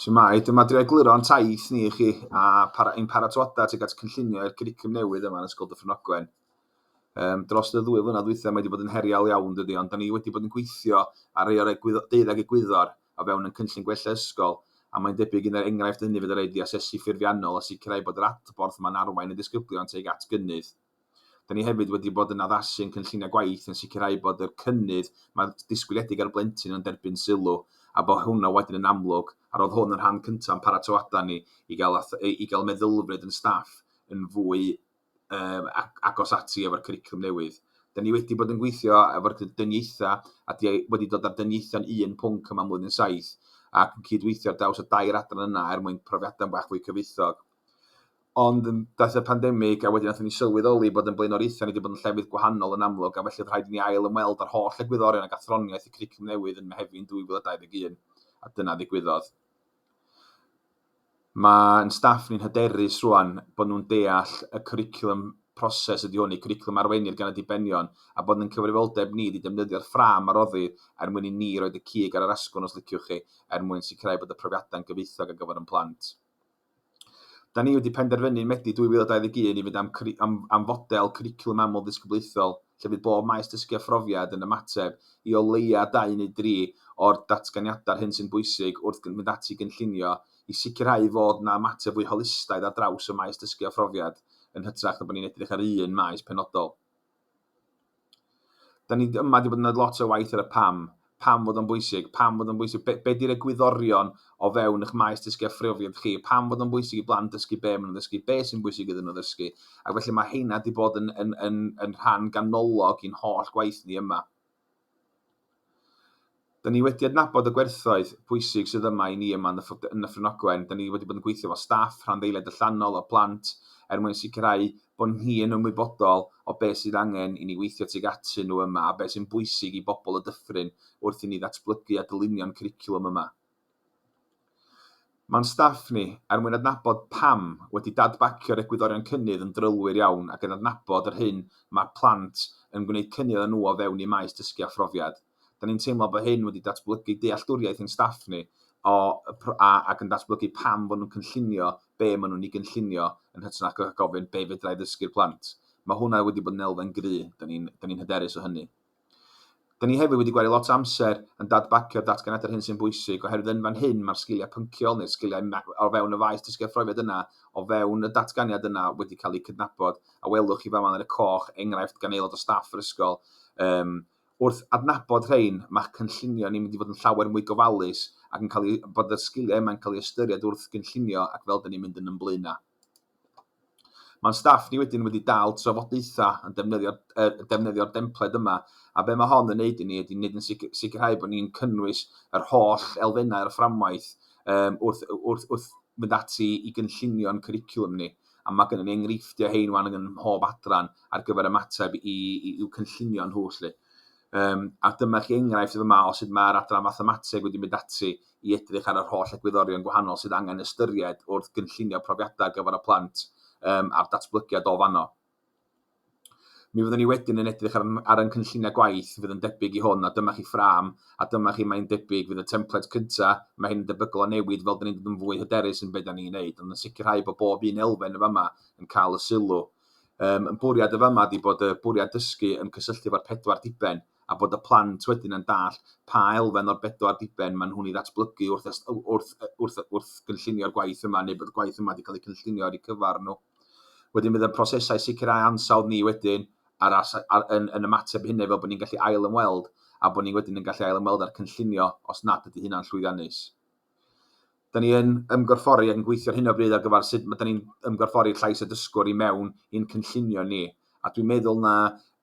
Shwmae, dyma drio egluro ein taith ni i chi a para, ein paratoadau tuag at cynllunio i'r curriculum newydd yma yn Ysgol Dyffryn Ogwen. Um, dros y ddwy flynedd ddwytha mae wedi bod yn heriol iawn dydy, ond da ni wedi bod yn gweithio ar rei o'r egwydd- deuddeg egwyddor o fewn yn cynllun gwella ysgol, a mae'n debyg un o'r enghraifft hynny fydd y rhaid i asesu ffurfiannol a sicrhau bod yr adborth yma'n arwain y disgyblion tuag at gynnydd. Dan ni hefyd wedi bod yn addasu ein cynlluniau gwaith yn sicrhau bod yr cynnydd mae'n disgwyliedig ar y blentyn yn derbyn sylw a bod hwnna wedyn yn amlwg a roedd hwn yn rhan cyntaf yn paratoadau ni i gael, i gael meddylfryd yn staff yn fwy um, agos ati efo'r cwricwlwm newydd. Da ni wedi bod yn gweithio efo'r dyniaethau a di wedi dod â'r dyniaethau'n un pwnc yma mlwyddyn saith ac yn cydweithio ar daws y dair adran yna er mwyn profiadau'n bach fwy cyfoethog. Ond daeth y pandemig a wedyn nathon ni sylweddoli bod yn blaenoriaethau ni wedi bod yn llefydd gwahanol yn amlwg a felly oedd rhaid i ni ail ymweld â'r holl egwyddorion ac athroniaeth y cwricwlwm newydd yn Mehefin 2021 a dyna ddigwyddodd. Mae'n staff ni'n hyderus rwan bod nhw'n deall y cwricwlwm proses ydy hwn, y cwricwlwm arweinir gan y dibenion a bod yn cyfrifoldeb ni ydy defnyddio'r ffrâm a roddir er mwyn i ni roed y cig ar yr asgwrn os liciwch chi er mwyn sicrhau bod y profiadau'n gyfoethog ar gyfer ein plant. Dan ni wedi penderfynu yn Medi 2021 i fynd am cwri- am am fodel cwricwlwm amlddisgyblaethol lle fydd bob maes dysgu a phrofiad yn ymateb i o leia' dau neu dri o'r datganiadau'r hyn sy'n bwysig wrth gyn- fynd ati i gynllunio i sicrhau fod 'na ymateb fwy holistaidd ar draws y maes dysgu a phrofiad yn hytrach na bod ni'n edrych ar un maes penodol. Dan ni yma wedi bod yn gwneud lot o waith ar y pam. Pam fod o'n bwysig? Pam fod o'n bwysig? Be, be di'r egwyddorion o fewn eich maes dysgu a phrofiad chi? Pam fod o'n bwysig i blant dysgu be maen nhw'n ddysgu? Be sy'n bwysig iddyn nhw ddysgu? Ac felly mae heina wedi bod yn, yn, yn, yn rhan ganolog i'n holl gwaith ni yma. Dyn ni wedi adnabod y gwerthoedd pwysig sydd yma i ni yma yn Nyffryn Ogwen. Dyn ni wedi bod yn gweithio efo staff, rhanddeiliaid allanol a plant er mwyn sicrhau bod ni yn ymwybodol o beth sydd angen i ni weithio tuag atyn nhw yma a beth sy'n bwysig i bobl y dyffryn wrth i ni ddatblygu a dylunio'n cwricwlwm yma. Mae'n staff ni, er mwyn adnabod pam, wedi dadbacio'r egwyddorion cynnydd yn drylwyr iawn ac yn adnabod yr hyn mae'r plant yn gwneud cynnydd â nhw o fewn eu maes dysgu a phrofiad. Da ni'n teimlo bod hyn wedi datblygu dealltwriaeth ein staff ni ac yn datblygu pam fod nhw'n cynllunio be maen nhw'n ei gynllunio yn hytrach na gofyn 'be fedra i ddysgu'r plant? Mae hwnna wedi bod yn elfen gry, da ni'n hyderus o hynny. Dyn ni hefyd wedi gwario lot o amser yn dadbagio datganiadau ar hyn sy'n bwysig, oherwydd yn fan hyn mae'r sgiliau pynciol neu'r sgiliau o fewn y faes dysgu a phrofiad yna o fewn y datganiad yna wedi cael eu cydnabod, a welwch chi fama yn y coch, enghraifft gan aelod o staff yr ysgol. Um, wrth adnabod rhain, mae cynllunio ni'n mynd i fod yn llawer mwy gofalus ac yn cael ei, bod y sgiliau yma'n cael ei ystyried wrth gynllunio ac fel dyn ni'n mynd yn ymblwyna. Mae'n staff ni wedyn wedi dal trafodaethau yn defnyddio'r yn defnyddio'r dempled yma a be mae hon yn neud i ni ydy neud yn sic- sicrhau bod ni'n cynnwys yr holl elfennau o'r fframwaith yym wrth wrth wrth mynd ati i gynllunio'n cwricwlwm ni a mae gynnon ni enghreifftiau hein wan yn mhob adran ar gyfer ymateb i i i'w cynllunio nhw lly. Yym a dyma chi enghraifft fama o sut mae'r adran mathemateg wedi mynd ati i edrych ar yr holl egwyddorion gwahanol sydd angen ystyried wrth gynllunio profiadau ar gyfer y plant um, a'r datblygiad o fanno. Mi fyddwn ni wedyn yn edrych ar, ar yn cynlluniau gwaith fydd yn debyg i hwn, a dyma chi ffram, a dyma chi mae'n debyg fydd y templed cyntaf, mae hyn yn debygol o newid fel dyn ni'n dod yn fwy hyderus yn beth da ni'n neud, ond yn sicrhau bod bob un elfen y fama yn cael y sylw. Um, yn bwriad y fama ydy bod y bwriad dysgu yn cysylltu efo'r pedwar diben, a bod y plant wedyn yn dallt pa elfen o'r bedwar diben maen nhw'n ei ddatblygu wrth, wrth, wrth, wrth gynllunio'r gwaith yma, neu bod y gwaith yma wedi cael ei cynllunio ar eu cyfer nhw. Wedyn bydd y prosesau sicrhau ansawdd ni wedyn ar, ar, ar, yn, yn ymateb hynny fel bod ni'n gallu ail ymweld a bod ni wedyn yn gallu ail ymweld â'r cynllunio os nad ydy hynna'n llwyddiannus. Da ni yn ymgorffori ac yn gweithio ar hyn o bryd ar gyfer sut mae da ni'n ymgorffori llais y dysgwr i mewn i'n cynllunio ni. A dwi'n meddwl na